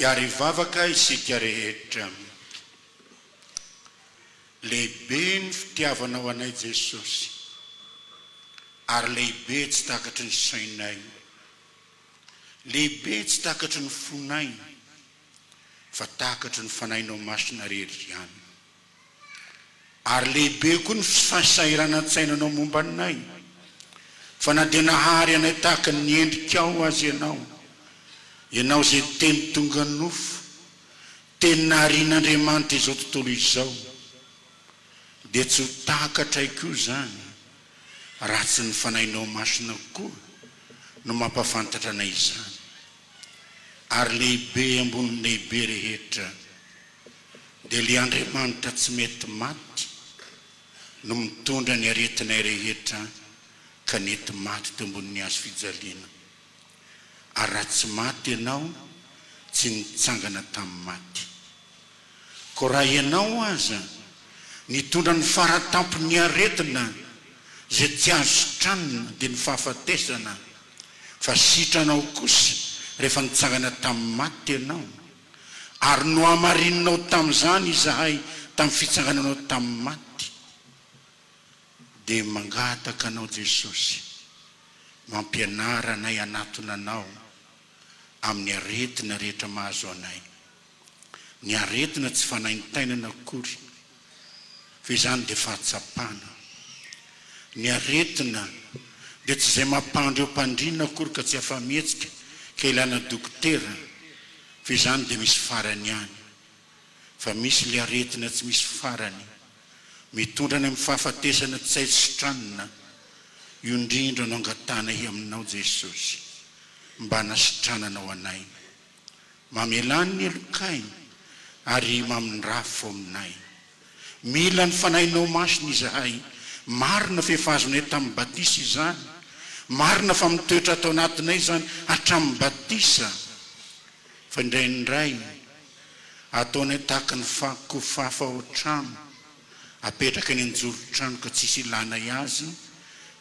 Hiary hivavaka isika rehetra. Lehibe ny fitiavanao anay Jesosy ary lehibe tsy takatry ny sainay. Lehibe tsy takatry ny fonay fa takatry ny Fanahinao Masina rehetra ihany. Ary lehibe koa ny fahasahiranantsainanao momba anay, fa na dia nahary anay tahaka ny endrikao aza ianao, ianao izay teny tonga nofo, teny naharian'Andriamanitra izao tontolo izao, dia tsy ho takatray koa izany, raha tsy ny Fanahinao Masina koa no mampahafantatra anay izany. Ary lehibe ambony ny lehibe rehetra. dia ilay Andriamanitra tsy mety maty no mitondra ny aretinay rehetra ka nety maty teo ambonin'ny hazo fijaliana. Ary raha tsy maty ianao, tsy nitsangana tamin'ny maty. Koa raha ianao aza nitondra ny faratampon'ny aretina izay tsy azo sitranina, dia ny fahafatesana, fa sitranao kosa rehefa nitsangana tamin'ny maty ianao. Ary nohamarininao tamin'izany izahay tamin'ny fitsangananao tamin'ny maty, dia mangataka anao Jesosy, mampianara anay hanatona anao amin'ny aretina rehetra mahazo anay, ny aretina tsy fanaintainana akory Fa izany dia fahatsapana. Ny aretina dia tsy izay mampandry eo mpandrina akory ka tsy afa-mihetsika ka ilana dokotera fa izany dia misy farany ihany. Fa misy ilay aretina tsy misy farany mitondra any amin'ny fahafatesana tsy hay sitranina. Io indrindra no angatahanay aminao Jesosy mba hanasitrananao anay Mamelà ny olon-kainy, ary mamindrafo faominay. Mila ny Fanahinao Masina izahay. Marina fa efa azonay tamin'ny batisa izany. Marina fa mitoetra ato anatinay izany hatramin'ny batisa. Fa indraindray, ataonay tahaka ny kofafa ao an-trano, apetraka eny an-joron-trano ka tsisy ilànay azy,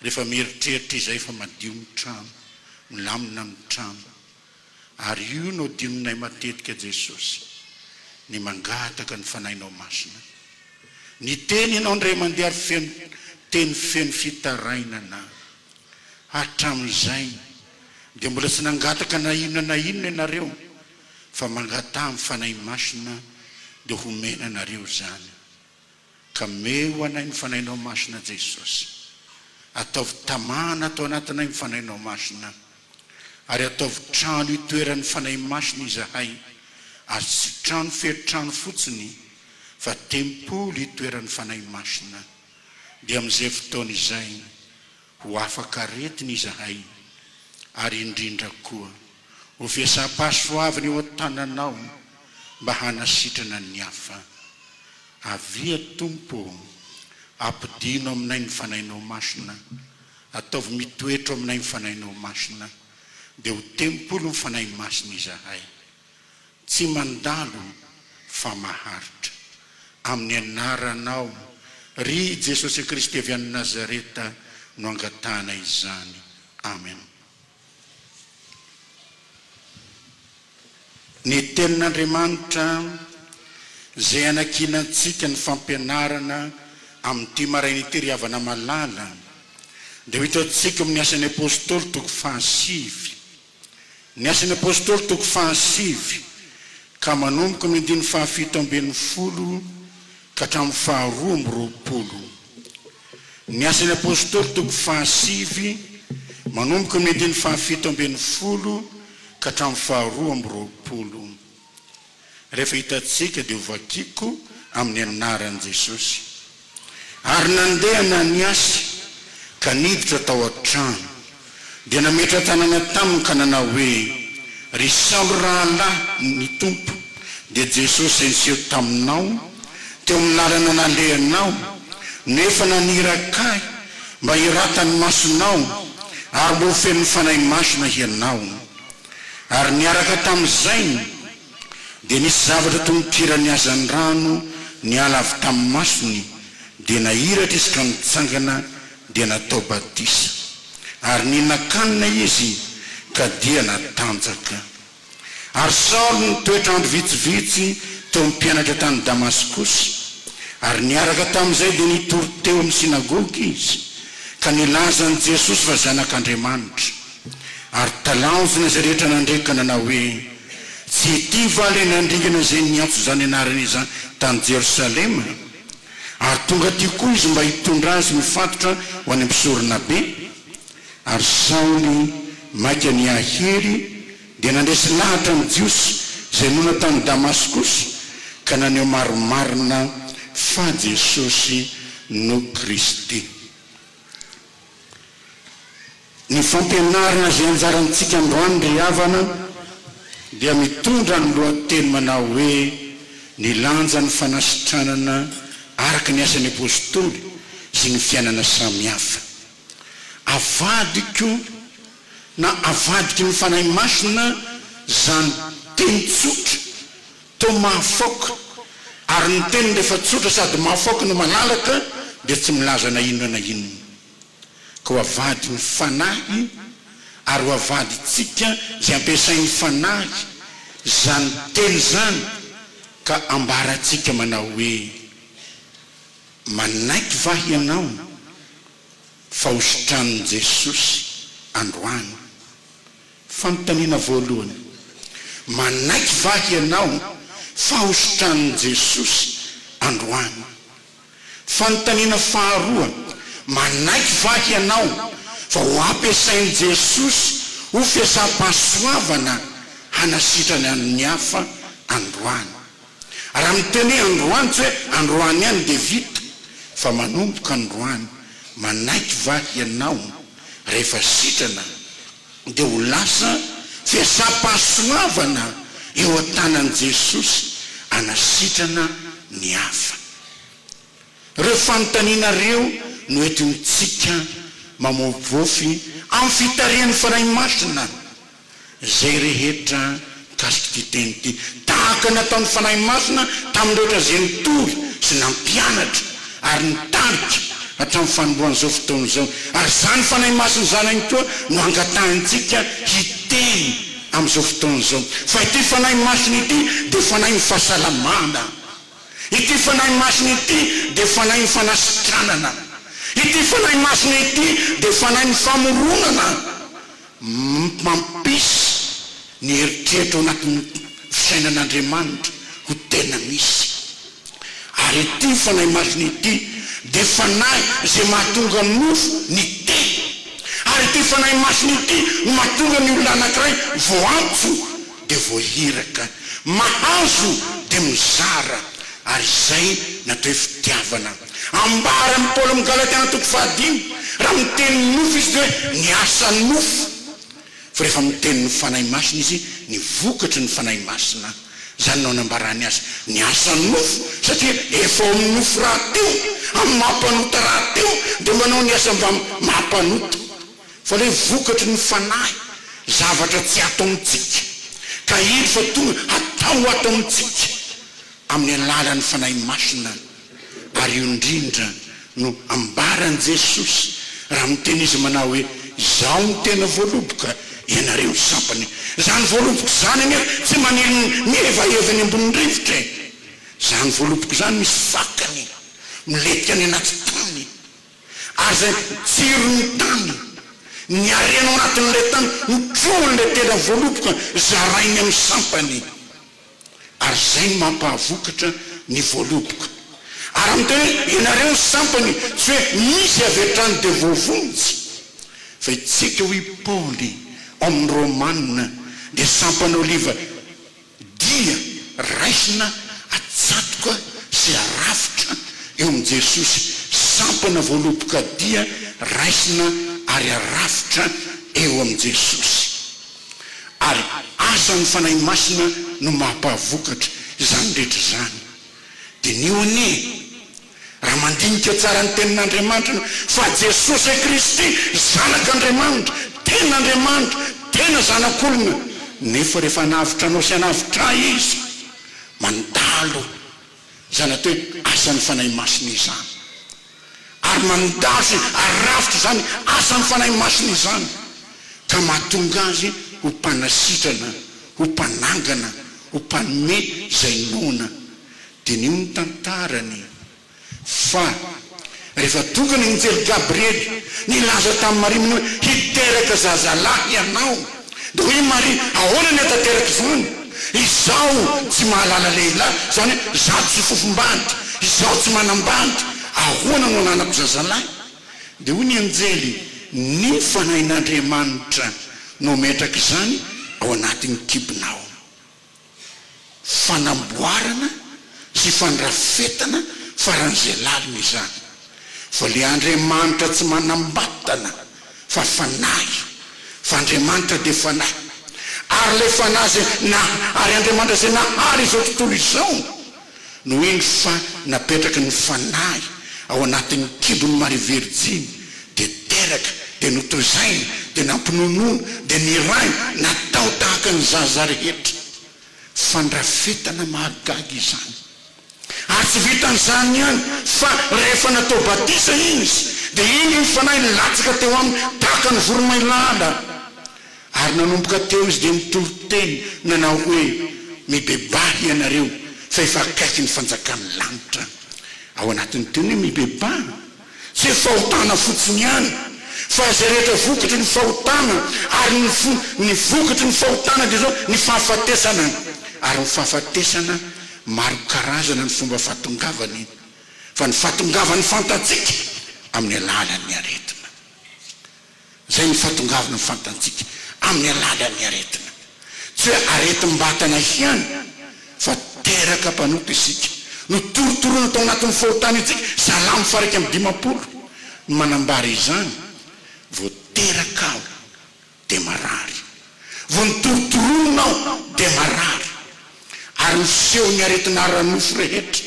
rehefa mieritreritra izay fa madio ny trano, milamina ny trano. Ary io no adinonay matetika Jesosy, ny mangataka ny Fanahinao Masina. Ny Teninao indray mandeha feno teny feno fitarainana. Hatramin'izay dia mbola tsy nangataka na inona na inona ianareo fa mangataha ny Fanahy Masina dia homena anareo izany. Ka meho anay ny Fanahinao Masina Jesosy. Ataovy tamana ato anatinay ny Fanahinao Masina. Ary ataovy trano hitoeran'ny Fanahy Masina izahay, ary tsy trano feno trano fotsiny, fa tempoly hitoeran'ny Fanahy Masina. Dia amin'izay fotoana izay, Ho afaka aretina izahay, ary indrindra koa, ho fiasam-pahasoavana eo an-tananao mba hanasitrana ny hafa. Avia, Tompo ô, ampodiano aminay ny Fanahinao Masina, ataovy mitoetra ao aminay ny Fanahinao Masina, dia ho tempolin'ny Fanahy Masina izahay. Tsy mandalo fa maharitra. Amin'ny anaranao, ry Jesosy Kristy avy any Nazareta no angatahana izany. Amen. Ny Tenin'Andriamanitra izay hanakiana antsika ny fampianarana amin'ity maraina ity ry havana malala dia ho hitantsika ao amin'ny Asan'ny Apostoly toko fahasivy. Ny Asan'ny Apôstôly toko fahasivy ka manomboka amin'ny andininy fahafito ambin'ny folo ka hatramin'ny faharoa amby roapolo. Ny Asan'ny Apôstôly toko fahasivy manomboka amin'ny andininy fahafito ambin'ny folo ka hatramin'ny faharoa amby roapolo. rehefa hitantsika dia ho vakiko amin'ny anaran'i Jesosy. Ary nandeha nany azy ka niditra tao an-trano dia nametra-tanana taminy ka nanao hoe, Ry Saoly rahalahy ny Tompo dia Jesosy izay niseho taminao teo amin'ny lalana nalehanao no efa naniraka ahy mba hiratany masonao ary mba ho fenon'ny Fanahy Masina hianao. Ary niaraka tamin'izay dia nisy zavatra toy ny kiran'ny hazan'ny rano niala avy tamin'ny masony, dia nahiratra izy ka nitsangana dia natao batisa. Ary nihinan-kanina izy ka dia natanjaka. Ary Saoly nitoetra andro vitsivitsy teo amin'ny mpianatra tany Damaskosy, ary niaraka tamin'izay dia nitory teo amin'ny synagoga izy ka nilaza an'i Jesosy fa Zanak'Andriamanitra. Ary talanjona izay rehetra nandre ka nanao hoe, Tsy ity va ilay nandringana izay niantso izany anarana izany tany Jerosalema? Ary tonga aty koa izy mba hitondra azy mifatotra ho any am-pisoronabe. Ary Saoly maika niha-hery, dia nandresy lahatra ny Jiosy izay monina tany Damaskosy, ka naneho marimarina fa Jesosy no Kristy. Ny fampianarana izay anjarantsika androany ry havana dia mitondra ny lohateny manao hoe Ny lanjan'ny fanasitranana araka ny asan'ny Apostoly sy ny fiainana samihafa. Avadiko na avadiky ny Fanahy Masina izany teny tsotra Toa mahafaoka, ary ny teniny rehefa tsotra sady mahafaoka no malalaka dia tsy milaza na inona na inona. Ka ho avadin'ny Fanahy ary ho avadintsika izay ampiasain'ny Fanahy izany teny izany ka ambarantsika manao hoe, Manaiky va hianao fa hositranin'i Jesosy androany? Fanontaniana voalohany, Manaiky va hianao fahosotranin'i Jesosy androany? Fanontaniana faharoa, Manaiky va hianao fa ho ampiasain'i Jesosy ho fiasam-pahasoavana hanasitrany an'ny hafa androany? Raha miteny hoe androany, tsy hoe androany ihany dia vita, fa manomboka androany, manaiky va hianao rehefa sitrana Dia ho lasa fihetseham-pahasoavana eo an-tanan'i Jesosy hanasitrana ny hafa. Ireo fanontaniana ireo no entintsika mamoafofy amin'ny fitarihan'ny Fanahy Masina izay rehetra Mikasik'ity teny ity, tahaka ny ataon'ny Fanahy Masina tamin'rehetra izay nitory sy nampianatra ary nitarika hatramin'ny fanombohan'izao fotoana izao, ary izany Fanahy Masina izany ihany koa no angatahintsika hiteny amin'izao fotoana izao. Fa ity Fanahy Masina ity dia Fanahin'ny fahasalamana. Ity Fanahy Masina ity dia Fanahin'ny fanasitranana. Ity Fanahy Masina ity dia Fanahin'ny famoronana. Mampisy ny eritreritra ao anatin'ny fisainan'Andriamanitra ho tena misy. Ary ity fanahy masina ity dia fanahy izay mahatonga nofo ny tena. Ary ity fanahy masina ity no mahatonga ny olona anankiray voantso dia voahiraka, mahazo dia mizara, ary izay no atao hoe fitiavana. Ambara amin'i Paoly amin'ny Galatiana toko fahadimy, raha miteny ny nofo izy dia hoe ny asan'ny nofo, fa rehefa miteny ny Fanahy Masina izy, ny vokatry ny Fanahy Masina. Izany no anambarany azy, ny asan'ny nofo, satria efa ao amin'ny nofo rahateo, amin'ny maha mpanota rahateo, dia manao ny asa mba maha mpanota. Fa ilay vokatry ny fanahy, zavatra tsy ato amintsika, ka heno fa tonga hatao ato amintsika amin'ny alalan'ny Fanahy Masina. Ary io indrindra no ambaran'i Jesosy raha miteny Izy manao hoe, Izaho no tena voaloboka, ianareo ny sampana. Izany voaloboka izany anefa tsy maneno mihevaheva eny ambonin'ny rivotra e. Izany voaloboka izany misy fakany, milentika any anaty tany. Aza jiro ny tany, ny harena ao anatin'ilay tany, ny trohin'ilay tendra voaloboka zarainy amin'ny sampany. Ary izay no mampahavokatra ny voaloboka. Ary amin'ny teny hoe ianareo ny sampany, tsy hoe misy avy hatrany dia voavonjy. Fa i Tsika hoy i Paoly ao amin'ny Romana dia sampan'oliva. Dia raisina atsatoka sy arafitra eo amin'i Jesosy, sampana voaloboka dia raisina ary arafitra eo amin'i Jesosy. Ary asan'ny Fanahy Masina no maha-mpahavokatra izany rehetra izany. Diniho anie. Raha mandinika tsara ny Tenin'Andriamanitra ianao, fa Jesosy Kristy, Zanak'Andriamanitra, tena Andriamanitra, tena Zanak'olona, nefa rehefa hanavotra anao sy hanavotra ahy Izy, mandalo izany atao hoe asan'ny Fanahy Masina izany. Ary mandalo sy arafitra izany asan'ny Fanahy Masina izany, ka mahatonga Azy ho Mpanasitrana, ho Mpanangana, ho Mpanome izay noana. Diniho ny tantarany fa rehefa tonga ny anjely Gabriely nilaza tamin'i Maria mino hoe hiteraka zazalahy ianao dia hoy Maria ahoana ny hataterako izany izaho tsy mahalala lehilahy izany hoe izaho tsy fofom-bandy izaho tsy manam-bandy ahoana no hananako zazalahy dia hoy ny anjely ny fanahin'Andriamanitra no hametraka izany ao anatin'ny kibonao. Fanamboarana sy fandrafetana faran'izay lalina izany. Fa le Andriamanitra tsy manambatana fa fanahy. Fa Andriamanitra dia fanahy. Ary le fanahy izay ary Andriamanitra izay nahary izao tontolo izao. Noho iny fa napetraky ny fanahy ao anatin'ny kibon'i Maria Virjiny, dia teraka, dia notoizaina, dia nampinonoana, dia nirahina, natao tahaka ny zaza rehetra. Fandrafetana mahagaga izany! Ary tsy vitan'izany ihany, fa rehefa natao batisa Izy, dia indro ny fanahy nilatsaka teo Aminy tahaka ny voromailala. Ary nanomboka teo izy dia nitory teny nanao hoe, Mibebaha hianareo, fa efa akaiky ny fanjakan'ny lanitra. Ao anatin'ny teny hoe mibebaha, tsy hoe fahotana fotsiny ihany, fa izay rehetra vokatry ny fahotana, ary ny fo, ny vokatry ny fahotana dia izao, ny fahafatesana, ary ny fahafatesana maro karazana ny fomba fahatongavany, fa ny fahatongavan'ny fantatsika amin'ny alalan'ny aretina. izay nifatongavana fantantsika amin'ny alalan'ny aretina. Tsy hoe aretim-batana ihany fa teraka mpanota isika. Notorotoroina tao anatin'ny fahotana isika, Salamo faha iraika amby dimampolo no manambara izany, Vao teraka aho dia marary. Vao nitory toronona aho dia marary ary miseho ny aretina ara-nofo rehetra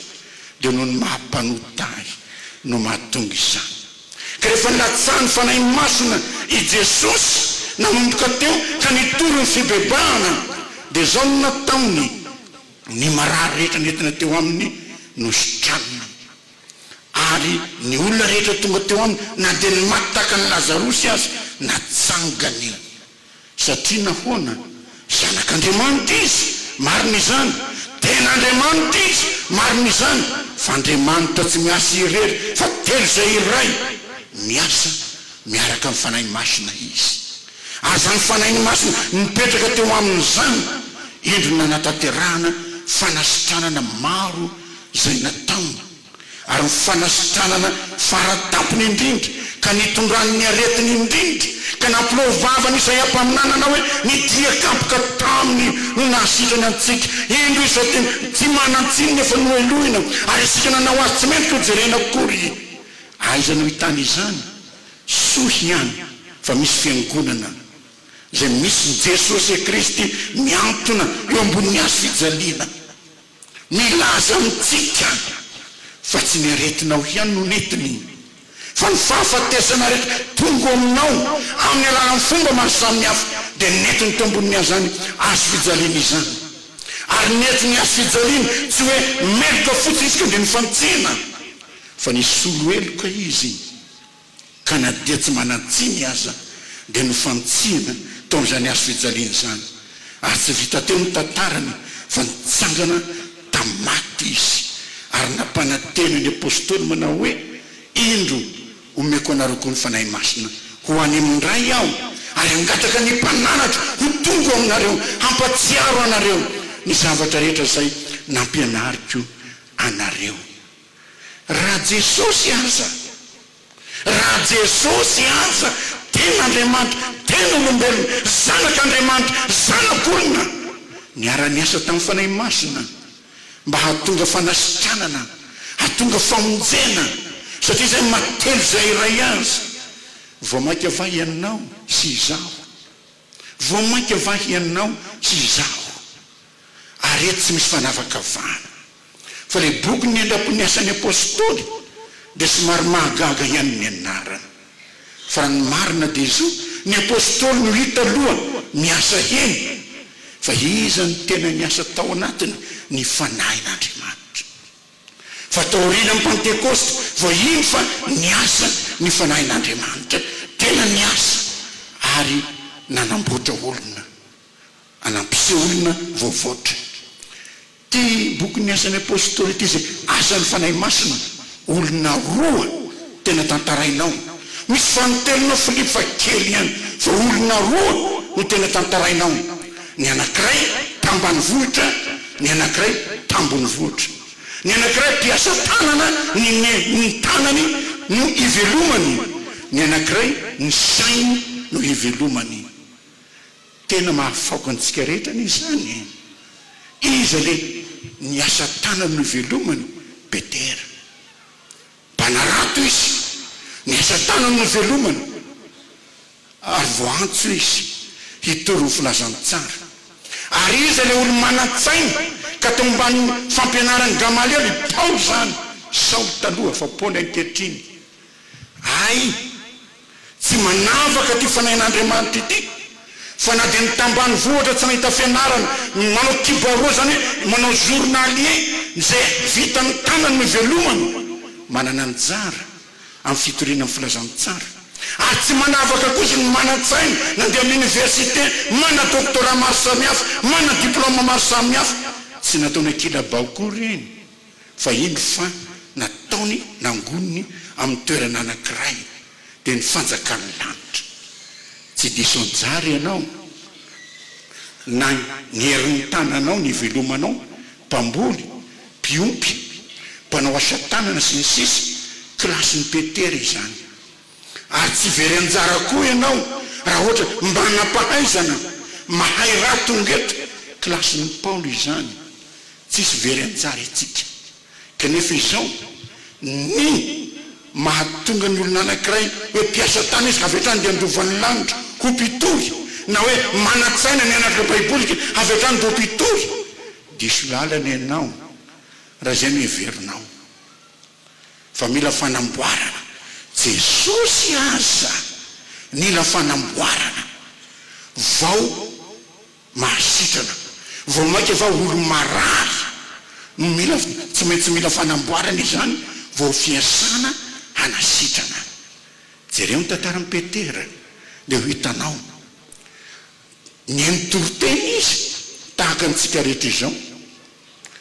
dia noho ny maha mpanota ahy no mahatonga izany. Ka rehefa nilatsahan'ny Fanahy Masina i Jesosy nanomboka teo ka nitory ny fibebahana dia izao no nataony, ny marary rehetra nentina teo aminy no sitranina. Ary ny olona rehetra tonga teo aminy, na dia ny maty tahaka an'i Lazarosy aza, natsangany. Satria nahoana? Zanak'Andriamanitra izy. Marina izany. Tena Andriamanitra izy. Marina izany. Fa Andriamanitra tsy miasa irery, fa telo izay iray. Miasa miaraka amin'ny Fanahy Masina Izy. Aza ny Fanahy Masina nipetraka teo aminy izany, indro nanatanterahana fanasitranana maro izay natamba, ary ny fanasitranana faratampony indrindra ka nitondrany ny aretiny indrindra, ka nampilao vava an' Isaia mpaminanana hoe, Ny dia kapoka taminy no nahasitrany antsika, indro izao dia tsy manan-tsiny ny efa nohelohina, ary isika nanao azy tsy mety hojerena akory. Aiza no hitany izany? Soa ihany fa misy fiangonana izay misy Jesosy Kristy mihantona eo ambonin'ny hazofijaliana. Milaza amintsika fa tsy ny aretinao ihany no nentiny fa ny fahafatesana rehetra tongo aminao amin'ny alalan'ny fomba maro samihafa dia nentiny teo ambonin'iazany hazo fijaliana izany. Ary nentin'ny hazo fijaliana tsy hoe meloka fotsiny isika dia nifantsena fa nisolo heloka izy. ka na dia tsy manan-tsiny aza dia nofantsihina tao amin'izany hazofijaliana izany, ary tsy vita teo ny tantarany fa nitsangana tamin'ny maty Izy, ary nampanantena ny Apostoly manao hoe, Indro, omeko anareo koa ny Fanahy Masina, ho any amin'ny Ray aho, ary hangataka ny Mpananatra ho tonga ao aminareo hampatsiaro anareo ny zavatra rehetra izay nampianariko anareo. Raha Jesosy aza, raha Jesosy aza tena Andriamanitra, tena olombelona, Zanak'Andriamanitra, Zanak'olona, niara-niasa tamin'ny Fanahy Masina mba hahatonga fanasitranana, hahatonga famonjena, satria izay maty telo izay iray aza, vao mainka va ianao sy izaho? Vao mainka va hianao sy izaho ary eto tsy misy fanavakavahana fa ilay bokin'ny andraikon' ny Asan'ny Apostoly dia somary mahagaga ihany ny anarany fa raha ny marina dia izao ny Apostoly no hita aloha miasa eny fa iza no tena niasa tao anatiny ny Fanahin' Andriamanitra Fa taorianan'ny Pantekosta vao hino fa niasa ny Fanahin'Andriamanitra. Tena niasa ary nanamboatra olona. A Nampiseho olona voavoatra. Ity bokin'ny Asan'ny Apostoly ity izay asan'ny Fanahy Masina, olona roa. Tena tantarainao. Misy vanintelonao Philippe fa kely ihany vao olona roa no tena tantarainao, ny anakiray tambanivohitra ny anakiray tambonivohitra. Ny anakiray mpiasa tanana ny ny ny tanany no ivelomany, ny anakiray ny sainy no ivelomany. Tena mahafaoka antsika rehetra anie izany e! Iza le ny asa tanany no ivelomany beter? Mpanarato izy, ny asa tanany no velomany, ary voaantso izy hitory ny filazantsara. Ary iza ilay olo-manan-tsaina ka tao ambanin'ny fampianaran'i Gamaliela i Paoly izany, Saoly taloha fa Paoly ankehitriny? Hay! Tsy manavaka ity fanahin'Andriamanitra ity fa na dia ny tambanivohitra tsy nahita fianarana ny manao kibarua izany hoe manao journalier izay vitan'ny tanany no ivelomany manana anjara amin'ny fitoriana ny filazantsara ary tsy manavaka kosa ny manan-tsaina nandeha amin'ny université manana doctorat maro samihafa manana diploma maro samihafa tsy nataony an-kilabao koa ireny Fa indro fa nataony nangoniny amin'ny toerana anankiray, dia ny fanjakan'ny lanitra. Tsy diso anjara ianao, na ny herin'ny tananao nivelomanao, mpamboly, mpiompy, mpanao asa tanana, sy ny sisa Kilasin'i Petera izany. Ary tsy very anjara koa ianao raha ohatra manam-pahaizana mahay raha tonga eto kilasin'i Paolo izany, tsisy very anjara itsika. Kanefa izao ny mahatonga ny olona anankiray hoe mpiasa tany izy ka avy hatrany dia handova ny lanitra ho mpitory na hoe manan-tsaina ny hanaraka Baiboly ka avy hatrany vao mpitory, diso lalana ianao raha izay no heverinao. Fa mila fanamboarana. Jesosy aza nila fanamboarana vao mahasitrana. Vao maika va olo marary no mila tsy maintsy mila fanamboarana izany vao fiasana hanasitrana. Jereo ny tantaran'i Petera dia ho hitanao. Nihaino toriteny izy, tahaka antsika rehetra izao.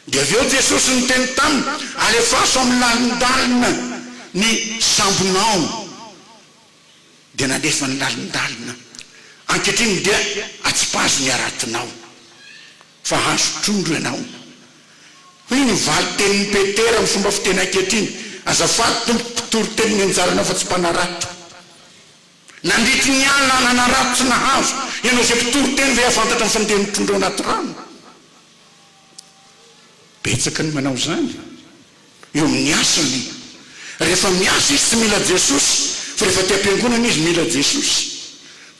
Dia avy eo Jesosy niteny taminy, Alefaso amin'ny lalindalina ny sambonao. Dia nalefany lalindalina. Ankehitriny dia atsipazo ny haratonao, fa azo trondro ianao. Hoy ny valin-tenin'i Petera amin'ny fomba fiteny ankehitriny, Azafady, Tompoko, mpitoriteny ny anjaranao fa tsy mpanarato. Nandritry ny alina nanarato tsy nahazo ianao izay mpitory teny ve hahafantatra ny fandehan'ny mpitondra ao anaty rano? Betsaka ny manao izany eo amin'ny asany. Rehefa miasa izy tsy mila Jesosy fa rehefa aty am-piangonana izy mila Jesosy.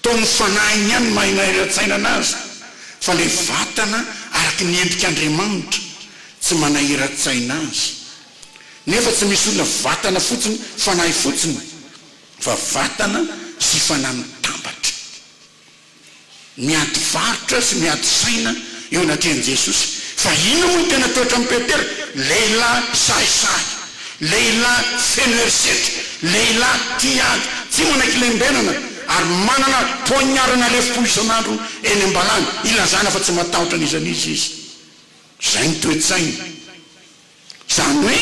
Toa ny fanahiny ihany no maha inahiran-tsainana azy fa ilay vatana araka ny endrik'Andriamanitra tsy manahiran-tsaina azy. Nefa tsy misy olona vatana fotsiny, fanahy fotsiny. fa vatana sy fanahy mitambatra, miady varotra sy miady saina eo anatrehan'i Jesosy. Fa inona moa no tena toetran'i Petera? Lehilahy sahisahy, lehilahy feno herisetra, lehilahy tia hiady, tsy manaiky lembenana, ary manana poignard-na lefom-po isan'andro eny am-balany, hilazana fa tsy matahotra an'iza n'iza izy. Izay ny toe-tsainy. Izany hoe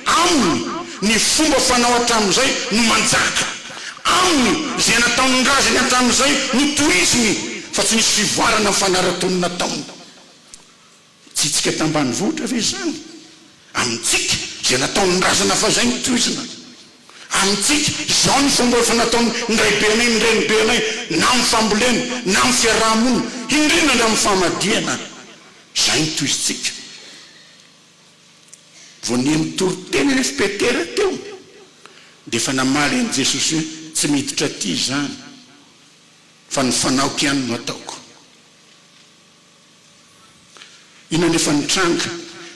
Aminy ny fomba fanao hatramin'izay no manjaka. Aminy izay nataon'ny razany hatramin'izay no tohiziny fa tsy nisy fivoarana mifanara-tony nataony. Tsitsika tambanivohitra ve izany? Amintsika izay nataon'ny razana fahizay no tohizina. Amintsika izao ny fomba efa nataon'ny ndraibe anay ny renibe anay na amin'ny fambolena na amin'ny fiaraha-monina, indrindra ndra amin'ny famadihana. Izay no tohizintsika. Vao niha nitoriteny anefa Petera teo dia efa namaly an'i Jesosy hoe, Tsy miditra aty izany, fa ny fanaoko ihany no ataoko. Inona anefa no nitranga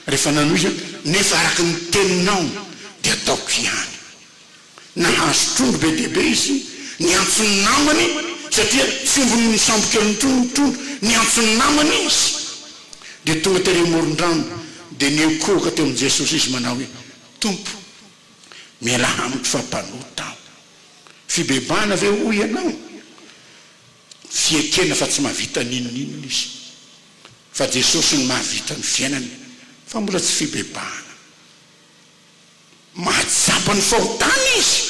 rehefa nanohy izy hoe, Nefa araka ny teninao dia ataoko ihany. Nahazo trondro be dia be izy. Niantso ny namany, satria tsy ombin'ny misambokely intsony ny trondro. Niantso ny namany izy, dia tonga tery amoron-drano, dia nihonkohoka teo amin'i Jesosy izy manao hoe, Tompo, mialà amiko fa mpanota aho. Fibebahana ve hoy ianao? Fiekena fa tsy mahavita n'inon'inona izy. Fa Jesosy no mahavita ny fiainana, fa mbola tsy fibebahana. Mahatsapa ny fahotana izy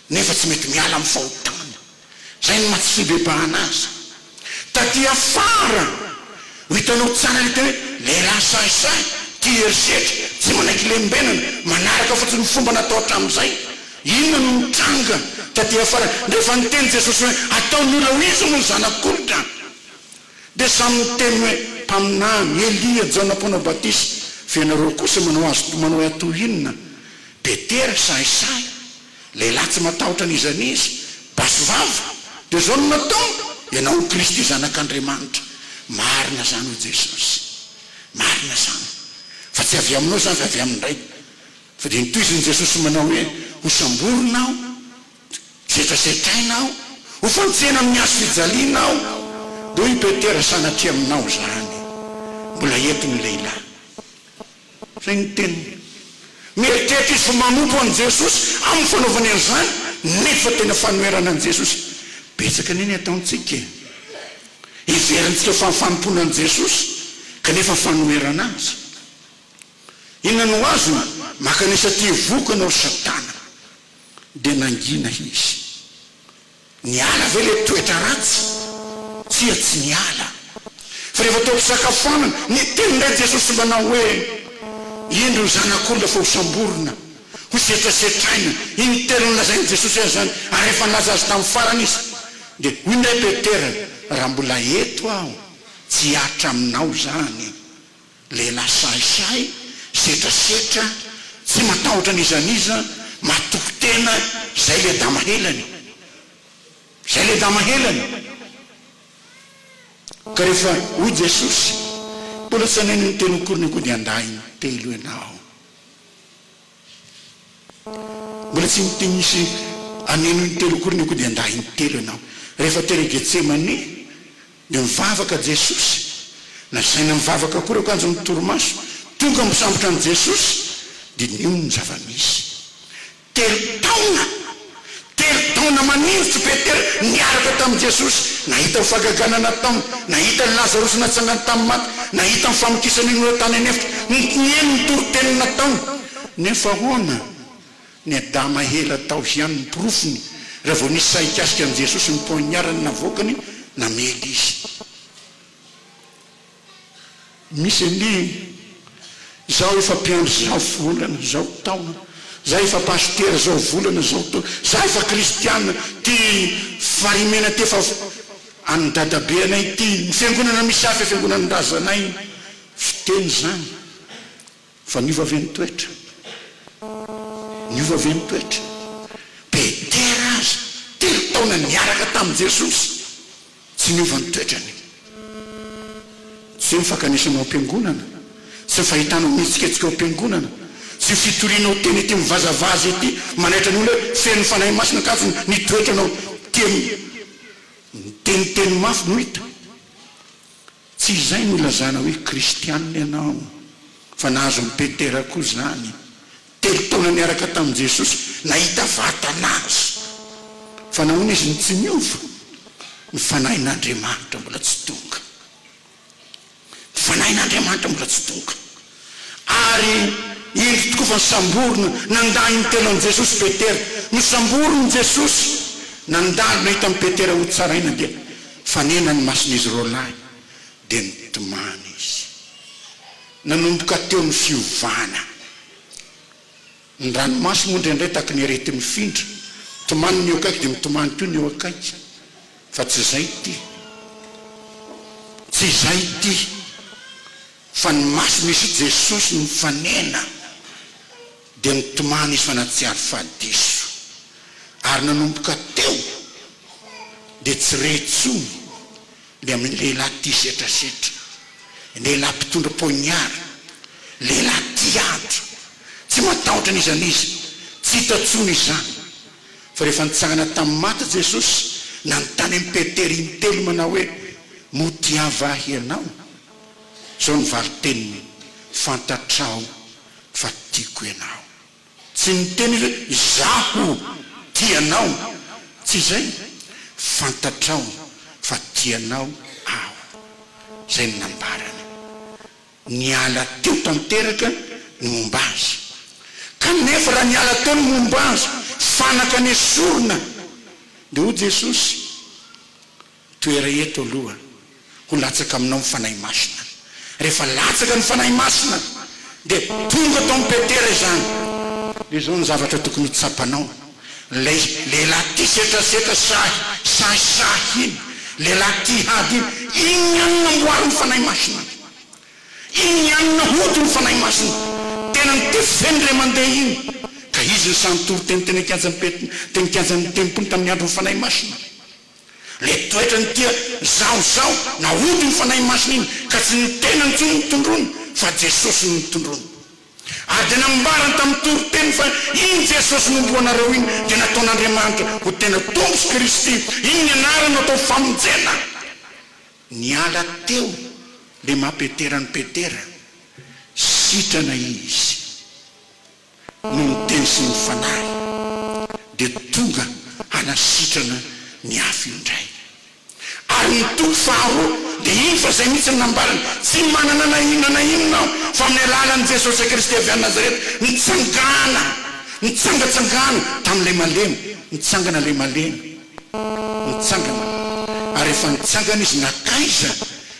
nefa tsy mety miala amin'ny fahotana. Izay no maha-tsy-fibebahana azy. Taty afara no hitanao tsara ilay teny hoe lehilahy sahisahy, tia herisetra, tsy manaiky lembenana, manaraka fotsiny ny fomba natao hatramin'izay. Inona no nitranga taty afara rehefa niteny Jesosy hoe ataon'ny olona ho izy moa ny Zanak'olona? Dia samy miteny hoe, Mpaminany, Elia, Jaona Mpanao Batisa, fa ianareo kosa manao azy manao ahy toy inona? Petera, Sahisahy! Lehilahy tsy matahotra n'iza n'iza! Basy vava! Dia izao no nataony, Ianao no Kristy, Zanak'Andriamanitra. Marina izany, hoy Jesosy. Marina izany. Fa tsy avy aminao izany, fa avy amin-dRay. Fa dia nitohizan'i Jesosy manao hoe, Hosamborina aho. Tsy efa zetaina aho, ho fantsena amin'ny hazo fijaliana aho, dia hoy i Petera, Sanatria aminao izany, mbola eto ny lehilahy. Izay ny teniny. Mieritreritra izy fa manompo an'i Jesosy amin'ny fanaovany an'izany, nefa tena fanoherana an'i Jesosy. Betsaka anie ny ataontsika e! Heverintsika fa fanompoana an'i Jesosy, kanefa fanoherana Azy. Inona no azony? Maka an'isa tia voky ianao ry Satana. Dia nangina izy. Niala ve ilay toetra ratsy? Tsia, tsy niala. Fa rehefa teo am-pisakafoanana, niteny indray Jesosy manao hoe, Indro ny Zanak'olona efa hosamborina, hosetrasetraina. Intelo nolazain'i Jesosy azy izany, ary efa nilaza azy tamin'ny farany izy. Dia hoy indray Petera, Raha mbola eto aho, tsy hihatra aminao izany. Lehilahy sahisahy, setrasetra, tsy matahotra n'iza n'iza, matoky tena, zay le dama helany. Zay le dama helany. Ka rehefa hoy Jesosy, mbola tsy aneno ny teny ho korinikodin-dahiny telo ianao. Mbola tsy niteny nisy an'ino intelo akory ny kodian-dahy intelo ianao. Rehefa tery Getsemane dia nivavaka Jesosy. Nasaina nivavaka akory akanjo ny torimaso. Tonga misambotra an'i Jesosy dia nihaino ny zava-misy. Telo taona! Telo taona maninjitra i Petera niaraka tamin'i Jesosy. Nahita ny fahagagana nataony. Nahita an'i Lazarosy natsangany tamin'ny maty. Nahita ny famokisan'ny olona tany an'efitra. Notoniany ny toriteny nataony. Nefa ahoana? Niadama ela tao ihany ny porofony. Raha vao nisy sahy hikasika an'i Jesosy ny poignard-ny navoakany, namely izy. Misy andiany, Izaho efa mpiandry izao volana, izao taona, izaho efa pasitera izao volana, izao taona, izaho efa kristiana, ity Farimena ity efa an'ny dadabe anay ity, ny fiangonana misy hafa fiangonan'ny razanay, fiteny izany. Fa niova ve ny toetra? Niova ve ny toetra? Petera aza, telo taona niaraka tamin'i Jesosy, tsy niova ny toetrany. Tsy hoe ny fankanesana ao am-piangonana, tsy ny fahitanao ny hetsiketsika ao am-piangonana, tsy ny fitorianao teny ety mivazavaza ety manaitra ny olona hoe feno ny Fanahy Masina ankafy ny toetranao tia miteniteny mafy no hita. Tsy izay no ilazana hoe kristianina ianao, fa nahazo an'i Petera koa izany. Telo taona niaraka tamin'i Jesosy, nahita vatana Azy. Fa nahoana izy no tsy niova? Ny Fanahin'Andriamanitra mbola tsy tonga. Ny Fanahin'Andriamanitra mbola tsy tonga. Ary indro tokoa fa samborina nandany ny telo an'i Jesosy Petera. Nosamborin'i Jesosy nandalo nahita an'i Petera ho tsaraina dia fanena ny mason'izy roalahy dia nitomany izy. Nanomboka teo ny fiovana. Ny ranomaso moa indraindray tahaka ny arety mifindra. Tomany ny eo akaiky dia mitomany koa ny eo akaiky. Fa tsy izay ity. Tsy izay ity. Fa ny maso misy i Jesosy nifanena dia nitomany izy fa nahatsiaro fa diso. Ary nanomboka teo dia tsy re intsony ny amin'ny lehilahy tia setrasetra, lehilahy mpitondra poignard, lehilahy tia andro, tsy matahotra n'iza n'iza, tsy hita intsony izany. Fa rehefa nitsangana tamin'ny maty Jesosy, nanontany an'i Petera intelo manao hoe, Moa tiavo ahy ianao? Zao ny valin-teniny, Fantatrao fa tiako ianao. Tsy niteny hoe izaho tia anao, tsy izay, Fantatrao fa tianao aho. Izay no nambarany. Niala teo tanteraka ny momba azy. Kanefa raha niala teo ny momba azy, fanaka nesorina, dia hoy Jesosy, Toera eto aloha ho latsaka aminao ny Fanahy Masina. Rehefa latsaka ny Fanahy Masina dia tonga tao amin'i Petera izany. Dia izao ny zavatra tokony ho tsapanao, ilay lehilahy tia setrasetra sahy sahisahy iny, lehilahy tia hady iny, iny ihany namboarin'ny Fanahy Masina. Iny ihany nahodiny ny Fanahy Masina. Tenany tefeny ilay mandeha iny. Ka izy no sahy nitory teny teny an-kianjan'ny Pet, teny an-kianjan'ny Tempoly tamin'ny andron'ny Fanahy Masina. Ilay toetra ny tia izahozaho naody ny Fanahy Masina iny ka tsy ny tenany intsony no tondroiny fa Jesosy no nitondroiny. Ary dia nambarany tamin'ny toriteny fa iny Jesosy nomboanareo iny dia nataon'Andriamanitra ho tena Tompo sy Kristy, iny ny anarany no atao famonjena. Niala teo ilay maha Petera an'i Petera, sitrana izy. no niteny sy ny fanahy dia tonga hanasitrana ny afo io indray. Ary ny toko faharoa dia iny fa izay mihitsy no nambarany, Tsy manana na inona na inona aho fa amin'ny alalan'i Jesosy Kristy avy any Nazareta nitsangana, nitsangatsangana tamin'ilay malemy, nitsangana ilay malemy, nitsangana, ary rehefa nitsangana izy, na taiza?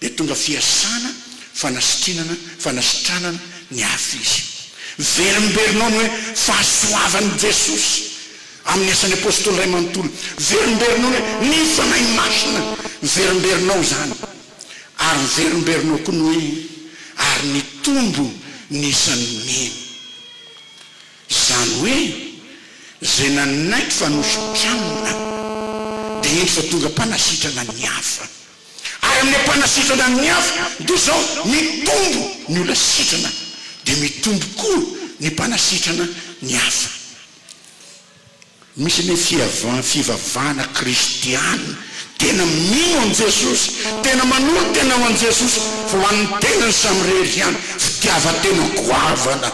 dia tonga fiasana fanasitrinana, fanasitranana ny hafa izy. Verinberinao ny hoe fahasoavan'i Jesosy amin'ny asan'ny Apostoly iray manontolo. Verinberinao ny hoe ny Fanahy Masina. Verinberinao izany. Ary verinberinao koa ny hoe ary nitombo ny isan'ny mino. Izany hoe izay nanaiky fa nositranina dia indro fa tonga mpanasitrana ny hafa. Ary amin'ilay mpanasitrana amin'ny afo dia izao, mitombo ny olona sitrana dia mitombo koa ny mpanasitrana ny afo. Misy ny fivavahana kristiana tena mino an'i Jesosy, tena manolo tena ho an'i Jesosy fa ho an'ny tenany samirery ihany, fitiavan-tena goavana.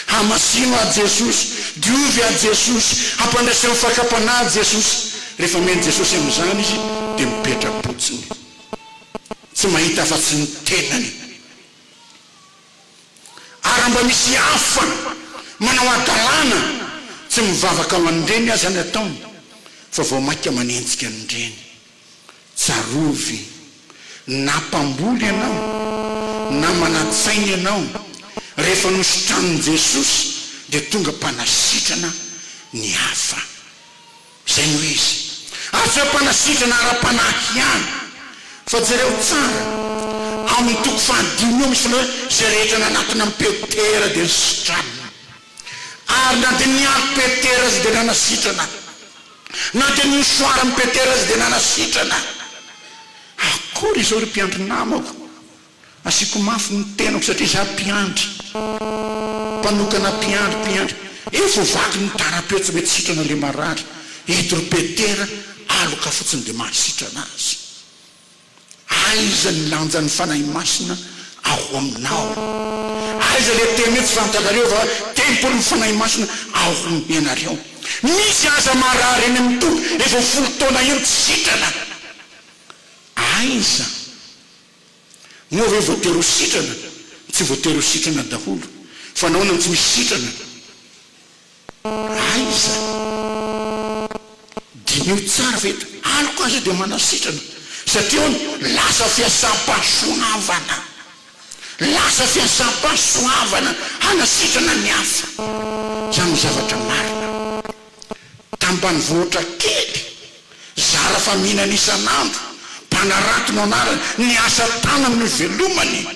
Hamasino ahy Jesosy, diovy ahy Jesosy, hampandresy amin'ny fakam-panahy ahy Jesosy. Rehefa mihaino Jesosy amin'izany izy dia mipetra-potsiny, tsy mahita afa-tsy ny tenany. Ary raha mba misy hafa manao hadalana, tsy mivavaka ho an'ireny aza ny ataony fa vao mainka manenjika an'ireny. Tsaroany ve? Na mpamboly ianao, na manan-tsaina ianao, rehefa nositranin'i Jesosy dia tonga mpanasitrana ny hafa. Izay no izy. Ary tsy hoe mpanasitrana ara-panahy ihany, fa jereo tsara, ao amin'ny toko fahadimy eo misy ny hoe izay rehetra nanatona an'i Petera dia nisitranina. Ary na dia ny afo Petera aza dia nanasitrana, na dia ny mosoaran'i Petera aza dia nanasitrana. Akory izao ry mpiandry namako, asiako mafy ny tenako satria izaho mpiandry, mpanokana mpiandry, mpiandry. Efa ho vaky ny tarape tsy mety sitrana ilay marary. Eto ry Petera, aloka fotsiny dia mahasitrana azy. Aiza ny lanjan'ny Fanahy Masina ao aminao? Aiza ilay teny hoe tsy fantatrareo fa tempolin'ny Fanahy Masina ao amin'ianareo? Misy aza marary eny amin'ny toby efa folo taona eny tsy sitrana. Aiza? Moa ve voatery ho sitrana? Tsy voatery ho sitrana daholo. Fa nahoana no tsy misy sitrana? Aiza e! Diniho tsara fa eto aloka aza dia manao sitrana satria hono lasa fiasam-pahasoavana, lasa fiasam-pahasoavana hanasitrana ny hafa. Izany no zavatra marina. Tambanivohitra kely Zara fa mihinana isan'andro, mpanarato no anarany, ny asa tanany no ivelomany.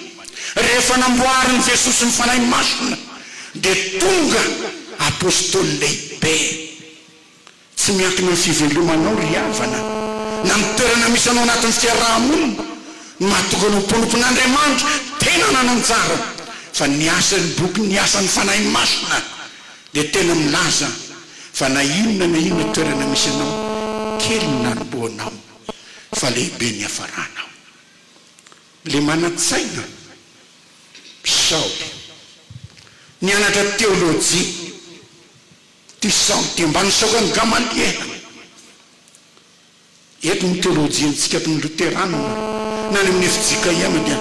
Rehefa namboarin'i Jesosy ny Fanahy Masina dia tonga Apostoly lehibe. Tsy miankina amin'ny fivelomanao ry havana, na ny toerana misy anao anatin'ny fiaraha-monina no mahatonga anao ho mpanompon'Andriamanitra tena nanan-jara, fa ny asan'ny boky ny asan'ny Fanahy Masina. dia tena milaza fa na inona na inona toerana misy anao, kely ny nanombohanao fa lehibe ny hiafaranao. Ilay manan-tsaina Saoly nianatra teolojia, ity Saoly ity, mba nisaoka an'i Gamaliela. Eto ny teolojia antsika eto ny loteranina na any amin'ny fjkm dia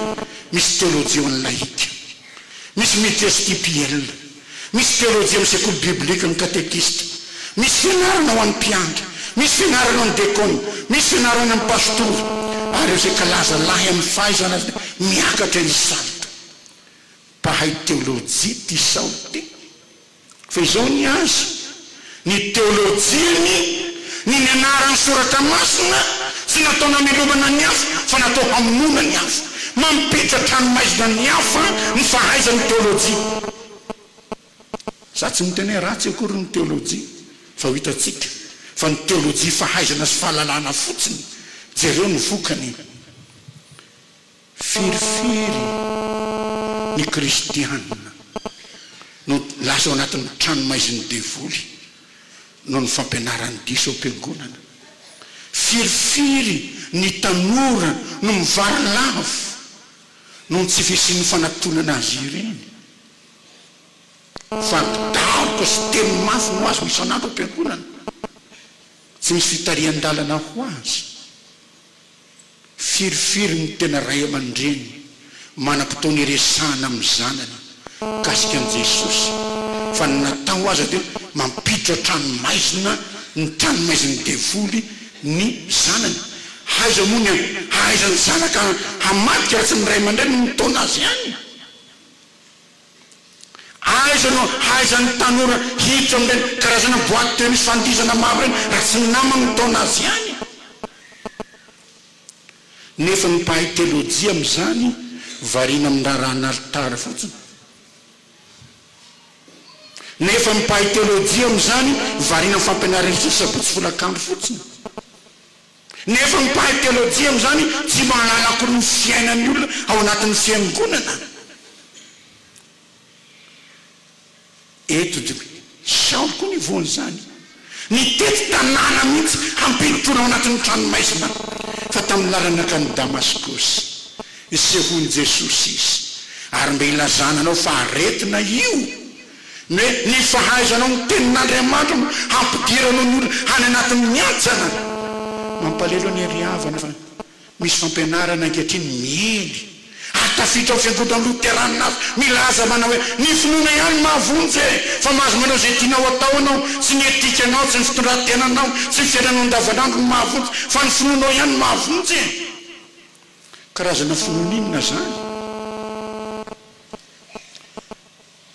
misy teolojia ho an'ny laika, misy ny tstpl, misy teolojia amin'ny sekoly biblika, ny katekista, misy fianarana ho an'ny mpiandry, misy fianarana ho an'ny dekona, misy fianarana amin'ny pastora ary ireo izay kalaza lahy amin'ny fahaizana azy dia miakatra isanto mpahay teolojia ity sao dia Fa izao ny azy, ny teolojiany, ny nianarany ny soratra masina, tsy natao namelomana ny hafa, fa natao hamonoana ny hafa. Mampiditra an-tranomaizina ny hafa ny fahaizany ny teolojia. Za tsy miteny hoe ratsy akory ny teolojia, fa ho hitantsika fa ny teolojia fahaizana sy fahalalana fotsiny, jereo ny vokany. Firifiry ny kristiana no lasa ao anatin'ny tranomaizin'ny devoly noho ny fampianarany diso ao am-piangonana? Firifiry ny tanora no mivarilavo noho ny tsy fisian'ny fanatonana azy ireny? Fari-daroka sy teny mafy no azony isan'andro ao am-piangonana, tsy misy fitarihan-dalana ho azy. Firifiry ny tena ray aman-dreny manam-potoana iresahana amin'ny zanany mikasika an'i Jesosy, fa ny natao aza dia mampiditra an-tranomaizina ny tranomaizin'ny devoly ny zanany. Aiza moa ny hahaizan'ny zanaka hamadika raha tsy ny ray aman-dreny no mitaona azy any? Aiza no hahaizan'ny tanora hiditra amin'ireny karazana boite de nuit fandihizana maro ireny raha tsy ny namany no mitaona azy ihany? Nefa ny mpahay teolojia amin'izany variana amin'ny raharahan'alitara fotsiny. Nefa ny mpahay teolojia amin'izany variana amin'ny fampianaran'isa sabotsy folakandro fotsiny. Nefa ny mpahay teolojia amin'izany tsy mahalala akory ny fiainan'ny olona ao anatin'ny fiangonana. Eto dia hoe, Saoly koa ny voan'izany. Nitety tanàna mihitsy hampihorohoro ao anatin'ny tranomaizina. Fa tamin'ny lalany nankany Damaskosy, nisehoan'i Jesosy izy, ary mba hilazana anao fa aretina io. Ny ny fahaizanao ny tenin'Andriamanitra no hampidiranao ny olona any anatin'ny ajanany. Mampalelo anie ry havana fa misy fampianarana ankehitriny miely ary tafiditra ao fiangonana loteranina hafa milaza manao hoe ny finoana ihany no mahavonjy e! Fa mahazo manao izay tianao atao anao, tsy ny etikanao, tsy ny fitondran-tenanao, tsy ny fiainanao andavanandro no mahavonjy fa ny finoanao ihany no mahavonjy e! Karazana finoana inona izany?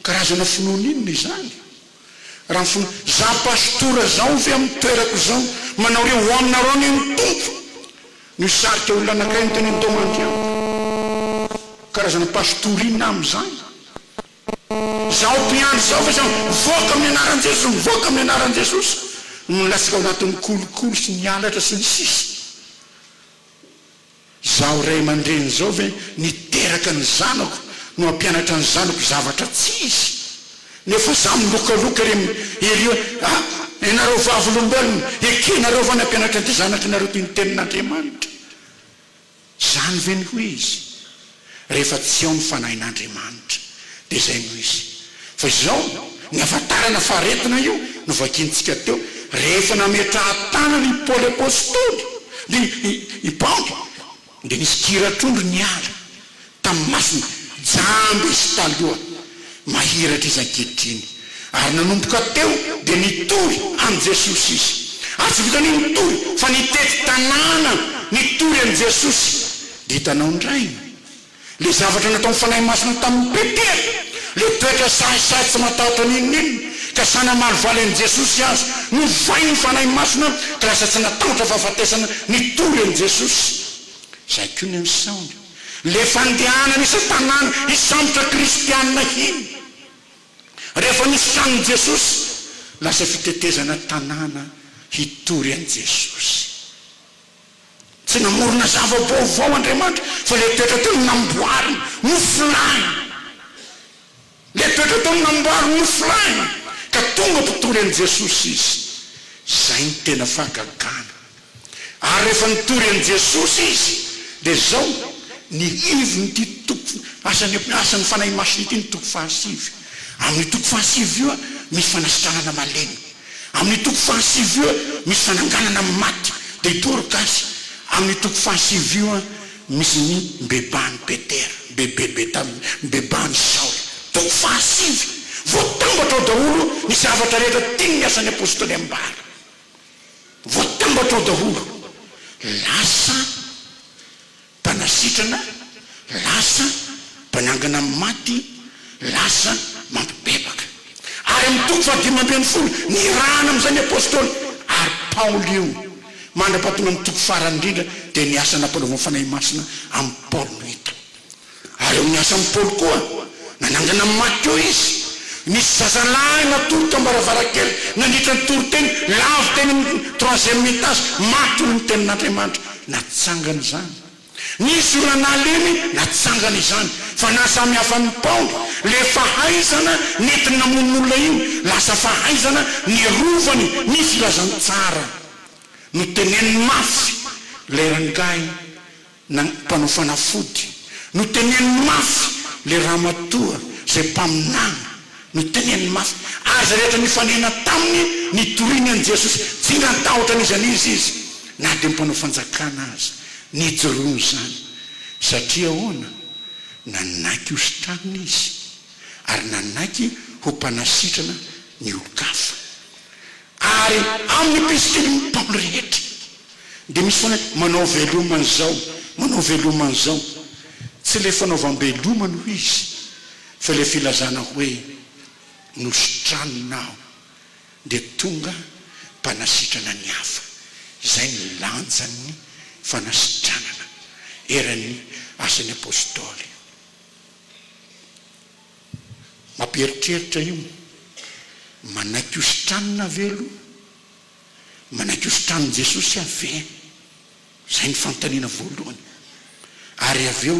Karazana finoana inona izany? Raha ny finoana, Za pastora zao ve amin'ny toerako izao manao re ho aminareo anie ny Tompo no hisarika olona anankiray no teneno tao Mandriampo? Karazana pastora inona aho amin'izany? Zaho mpiandry zao ve zany mivoaka amin'ny anaran'i Jesosy mivoaka amin'ny anaran'i Jesosy no milatsaka ao anatin'ny kolikoly sy ny halatra sy ny sisa? Izaho ray aman-dreny izao ve niteraka ny zanako no hampianatra ny zanako zavatra tsy izy? Nefa izaho milokaloka ery ery hoe, ah, ianareo vavolombelona, ekenareo va ny hampianatra an'ity zanakinareo ity ny tenin'Andriamanitra? Izany ve no ho izy? Rehefa tsy ao ny Fanahin'Andriamanitra dia izay no izy. Fa izao ny hafantarana fa aretina io no vakintsika teo rehefa nametrahan-tanana i Paoly Apostoly ny i Paoly dia nisy kira trondro niala tamin'ny masony jamby sy taloha Mahiratra izy ankehitriny. Ary nanomboka teo dia nitory an'i Jesosy izy. Ary tsy vitan'io nitory fa nitety tanàna nitory an'i Jesosy. Dia hitanao indray ilay zavatra nataon'ny Fanahy Masina tamin'i Petera, ilay toetra sahisahy tsy matahotra n'inon'inona ka sahy namaly valy an'i Jesosy aza. Novain'ny Fanahy Masina ka lasa tsy natahotra fahafatesana nitory an'i Jesosy. Izay koa ny an'i Saoly. Ilay fandehanana isan-tanàna hisambotra kristianina iny rehefa nosahanin'i Jesosy, lasa fitetezana tanàna hitory an'i Jesosy. Tsy namorona zava-baovao Andriamanitra fa ilay toetra tena namboariny, nofolainy. Letraka tao amin'ny ambaro nofirahina ka tonga mpitory an'i Jesosy izy. Izay no tena fahagagana. Ary rehefa nitory an'i Jesosy izy dia izao ny heviny toko asan'ny asan'ny Fanahy Masina ity ny toko fahasivy. Amin'io toko fahasivy io misy fanasitranana malemy. Amin'io toko fahasivy io misy fananganana amin'ny maty. Dia hitory gasy amin'io toko fahasivy io. Misy ny mibebany Petera, mibebe Betania, mibebany Saoly. Toko fahasivy, Voatambatra ao daholo ny zavatra rehetra tian' ny Asan' ny Apôstôly ambara. Voatambatra ao daholo. Lasa mpanasitrana, lasa. Mpanangana amin'ny maty lasa mampibebaka. Ary amin'ny toko fahadimy ambin'ny folo, nirahana amin'izay ny apostoly, ary Paoly io. Mandra-pahatonga amin'ny toko farany indrindra, dia ny asa nampanaoviny Fanahy Masina amin'i Paoly no hita. Ary eo amin'ny asan'i Paoly koa, nanangana amin'ny maty koa izy. Nisy zazalahy natory teo am-baravarankely nandritra ny toriteny, lavo teny amin'ny troisième étage, maty noho ny tenin'Andriamanitra. Natsangany izany. Ny joranaliny natsangana izany fa nahasamihafa ny paoly le fahaizana nentiny namono ny olona iny lasa fahaizana nerovany ny filazantsara no teneniny mafy le rangahy na mpanao fanafody no teneniny mafy le ramatoa zay mpaminany no teneniny mafy. Azy rehetra nifanena taminy nitoriany an'i Jesosy. Tsingan-tahotra n'iza n'iza izy, na dia ny mpanao fanjakana aza. Nijoroany izany. Satria ahoana? Nanaiky ho sitranina izy, ary nanaiky ho mpanasitrana ny olon-kafa. Ary amin'ny epistiliny Paoly rehetra, dia misy foana hoe, Manao veloma an'izao, manao veloma an'izao. Tsy ilay fanaovam-beloma no izy. Fa ilay filazana hoe nositranina aho dia tonga mpanasitrana ny hafa, izay ny lanjan'ny fanasitranana eran'ny asan'ny apostoly. Mampieritreritra io, manaiky hositranina ve aloha? Manaiky hositranin'i Jesosy aho ve? Izay ny fanontaniana voalohany. Ary avy eo,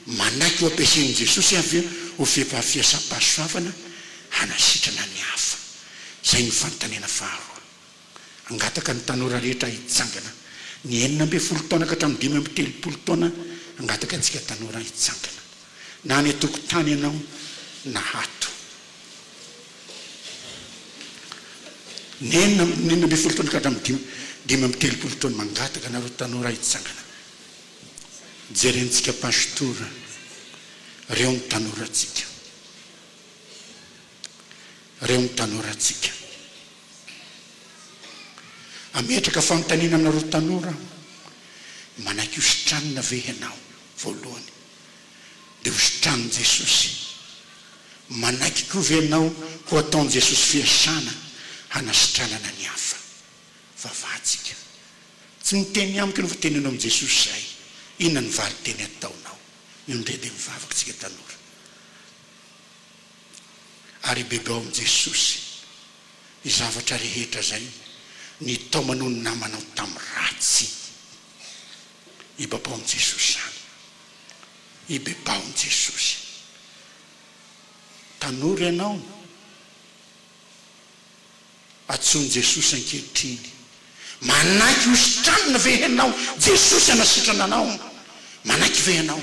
manaiky ho ampiasain'i Jesosy avy ho fepaham-fiasam-pahasoavana hanasitrana ny hafa. Izay ny fanontaniana faharoa. Angataka ny tanora rehetra hitsangana. Ny enina ambin'ny folo taona ka hatramin'ny dimy amby telopolo taona, angataka antsika tanora hitsangana. Na any an-tokotany ianao na ato. Ny enina amby ny enina ambin'ny folo taona ka hatramin'ny dimy dimy amby telopolo taona mangataka anareo tanora hitsangana. Jerentsika Pastora reo ny tanoratsika. Reo ny tanoratsika. Ametraka fanontaniana aminareo tanora aho, manaiky ho sitranina ve ianao voalohany? dia hositranin'i Jesosy. Manaiky koa ve ianao ho ataon'i Jesosy fiasana hanasitranana ny hafa? Vavahantsika. Tsy ny teny amiko no voateneninao amin'i Jesosy izay. Inona ny valin-teny ataonao? Indray dia mivavaka isika tanora ary ibebao amin'i Jesosy ny zavatra rehetra izay nitaomanao ny namanao tamin'ny ratsy. Ibabaon'i Jesosy izany. Ibebahoan'i Jesosy. Tanora ianao. Antsoin'i Jesosy ankehitriny. Manaiky hositranina ve ianao? Jesosy hanasitrana anao. Manaiky ve ianao?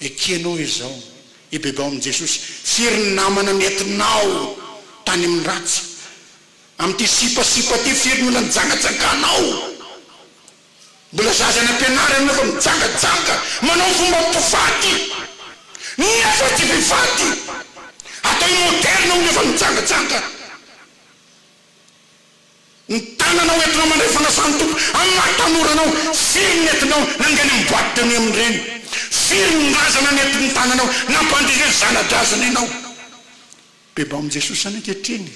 Ekenao izao, ibebao amin'i Jesosy, firy ny namana nentinao tany amin'ny ratsy? Amin'ity sipasipa ity firy no nanjangajanganao? Mbola zaza any am-pianarana ianao fa mijangajanga manao fomba mpivady, nefa tsy mpivady, ataony modèle hono efa mijangajanga. Ny tanana ho entinao mandray fanasan'ny Tompo amin'ny maha tanora anao. Firy ny entinao nangainy amin'ny boite de nuit amin-dreny? Firy ny razana nentin'ny tananao nampandrizy ny zana-drazana ianao? Bebao amin'i Jesosy izany ankehitriny.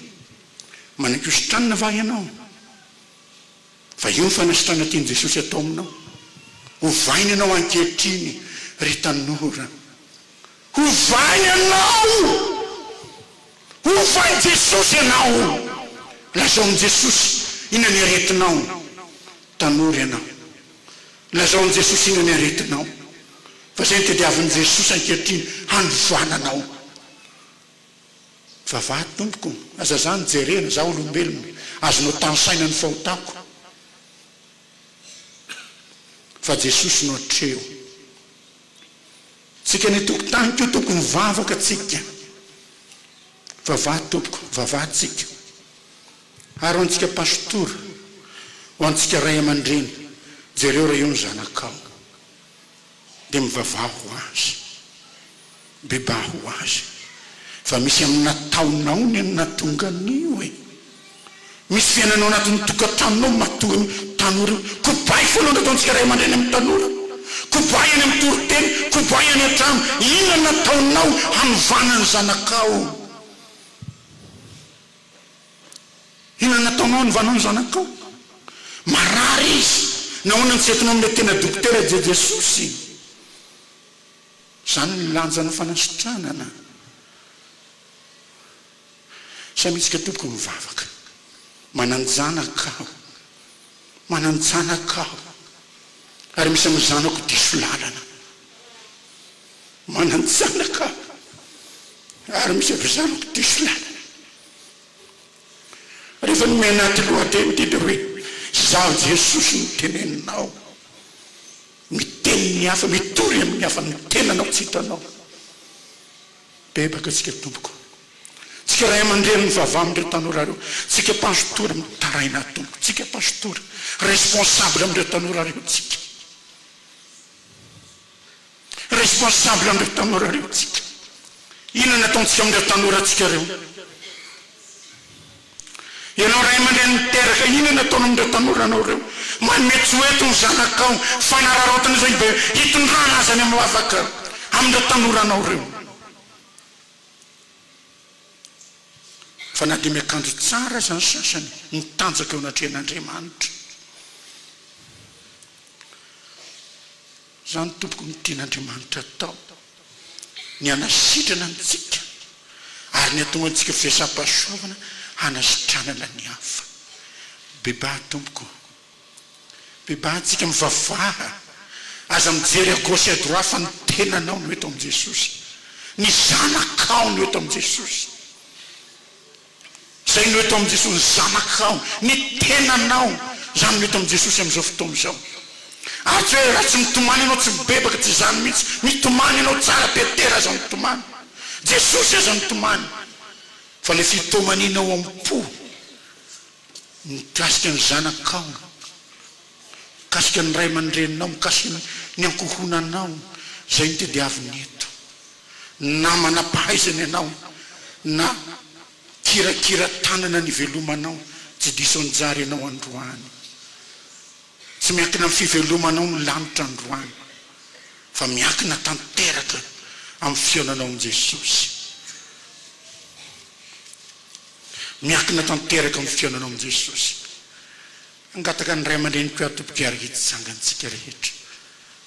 Manaiky hositranina va ianao? Fa io ny fanasitrana tian'i Jesosy atao aminao. Ovaina ianao ankehitriny, ry tanora. Ovaina ianao! Hovan'i Jesosy ianao o! Lazao amin'i Jesosy inona ny aretinao o! Tanora ianao. Lazao amin'i Jesosy inona ny aretinao. Fa izay no tadiavin'i Jesosy ankehitriny, hanovana anao. Vavahady tompoko, aza za nijerena, za olombelona, azonao tanisaina ny fahotako. Fa Jesosy no atreho. Tsika ny tokontany ko tokony vavaka tsika vavaha tompoko vavaha tsika ary ho antsika pastora ho antsika ray amandreny jereo raha eo ny zanakao dia mivavaha ho azy bebaha ho azy fa misy aminy nataonao ny natonga anio e. Misy fiainana ao anatin'ny tokantranonao matoa ny tanora io. Kobay foana no ataontsika ray aman-dreny amin'ny tanora. Kobay any amin'ny toriteny, kobay any an-trano. Inona no ataonao hanovana ny zanakao? Inona no ataonao hanovanao ny zanakao? Marary izy. Nahoana no tsy entinao amin'ilay tena dokotera Je Jesosy? Izany ny lanjan'ny fanasitranana. Samitsika tompoko mivavaka. Mananjanaka aho. Mananjanaka aho. Ary misy amin'ny zanako diso lalana. Mananjanaka aho. Ary misy amin'ny zanako diso lalana. Rehefa nomena anaty lohateny ity dia hoe, Izaho Jesosy no teneninao. Miteny ny hafa, mitory amin'ny hafa ny tenanao tsy hitanao. Bebaka tsika tompoko. Tsika ray aman-dreny mivavaha amin'ireo tanora ireo. Tsika pastora mitaraina ato tompoko. Tsika pastora responsable amin'ireo tanora ireo tsika. Responsable amin'ireo tanora ireo tsika. Inona no ataontsika amin'ireo tanora tsika ireo. Ianao ray aman-dreny miteraka inona no ataonao amin'ireo tanoranao ireo? Manome tsy ho eto ny zanakao, fanararaotana izao izy dia hitondrana azy any amin'ny lavaka amin'ireo tanoranao ireo. Fa na dia miakanjo tsara aza ny sasany, mitanjaka eo anatrehan'Andriamanitra. Izany tompoko no tian' Andriamanitra hatao, ny hanasitrana antsika ary ny hatonga antsika firaisampahasoavana hanasitranana ny hafa. Bebaha tompoko ô! Bebaha antsika mivavaha, aza mijery à gauche et à droite fa ny tenanao no eto amin'i Jesosy, ny zanakao no eto amin'i Jesosy. Izay no eto amin'i Jesosy, ny zanakao, ny tenanao. Izany no eto amin'i Jesosy amin'izao fotoana izao. Ary tsy hoe raha tsy mitomany ianao, tsy mibebaka, tsy izany mihitsy. Mitomany ianao tsara, Petera aza nitomany. Jesosy aza nitomany. Fa ilay fitomaniana ao am-po, mikasika ny zanakao, mikasika ny ray aman-dreninao, mikasika ny ankohonanao, izay no tadiaviny eto. na manam-pahaizana ianao, na kirakira tanana nivelomanao, tsy diso anjara ianao androany. Tsy miankina amin'ny fivelomanao ny lanitra androany, fa miankina tanteraka amin'ny fihaonanao amin'i Jesosy. Miankina tanteraka amin'ny fihaonanao amin'i Jesosy. Hangataka ny ray aman-dreniko ato mpikary hitsanga antsika rehetra.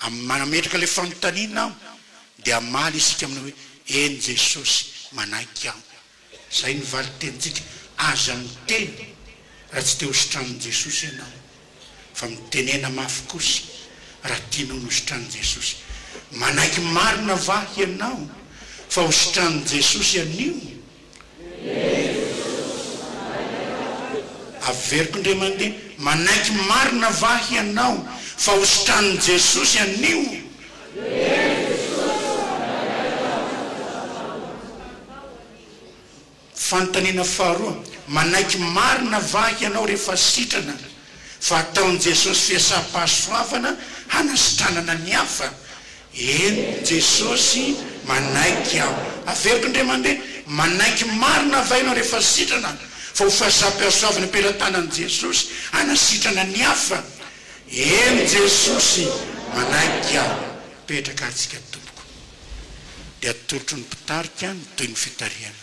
Amin'ny maha nametraka ilay fanontaniana aho dia hamaly isika amin'ny hoe, Eny Jesosy, manaiky aho. Izay no valin-tenintsika. Aza miteny raha tsy te hositraniny Jesosy ianao. Fa mitenena mafy kosa raha tianao nositraniny Jesosy. Manaiky marina va hianao fa hositraniny Jesosy anio? Averiko ndre mandeha, manaiky marina va hianao fa ho sitranin'i Jesosy anio? Fanontaniana faharoa, manaiky marina va hianao rehefa sitrana? fa ataon'i Jesosy fiasam-pahasoavana hanasitranana ny hafa. Eny, Jesosy manaiky aho. Averiko indray mandeha, manaiky marina avy aina rehefa sitrana fa ho fahasam-pihasoavana am-pelatanan'i Jesosy hanasitrana ny hafa? Eny, Jesosy manaiky aho. Petraka ary tsika tompoko, dia atolotro ny mpitarika ny tohin'ny fitarihana.